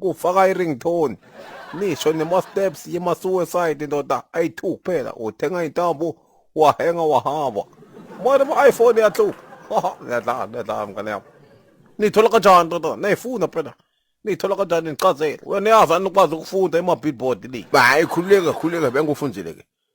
kufaka i-ringtone nisho nema-steps yema-suicide ndoda ayi-two kuphela uthenga intambo wahenga wahamba mane ma-iphone yahlupha niyadlala niyadlala mngane yami niyithola kanjani ndoda nayifuna phela niyithola kanjani nichazele wena yazi anikwazi ukufunda ema-billboard le hayi khululeke khululeke bengikufundile-ke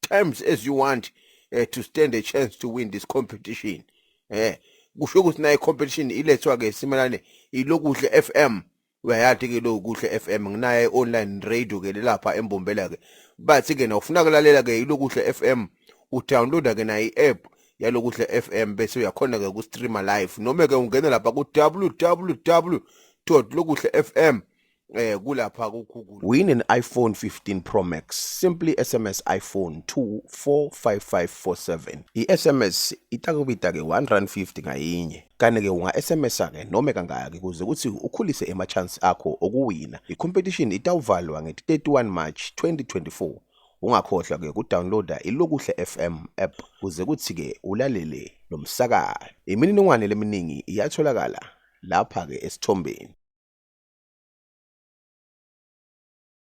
terms as you want uh, to stand a chance to win this competition eh kusho ukuthi naye competition ilethwa ke simelane ilokuhle FM uyayati ke lokuhle FM nginaye online radio ke lapha embombela ke bathi ke na ufuna kulalela ke ilokuhle FM udownloada ke nayi app yalokuhle FM bese uyakhona ke ku streamer live noma ke ungena lapha ku www.lokuhlefm eh kulapha kuGoogle win an iPhone 15 Pro Max simply SMS iPhone 245547 iSMS itakubita ke 1 rand 50 ngayinye kane ke unga SMS ke noma kangaki kuze kuthi ukhulise ema chance akho okuwina icompetition itawuvalwa nge 31 March 2024 ungakhohlwa ke kudownloada ilokuhle FM app kuze kuthi ke ulalele lomsakazo imininingwane leminingi iyatholakala lapha-ke esithombeni.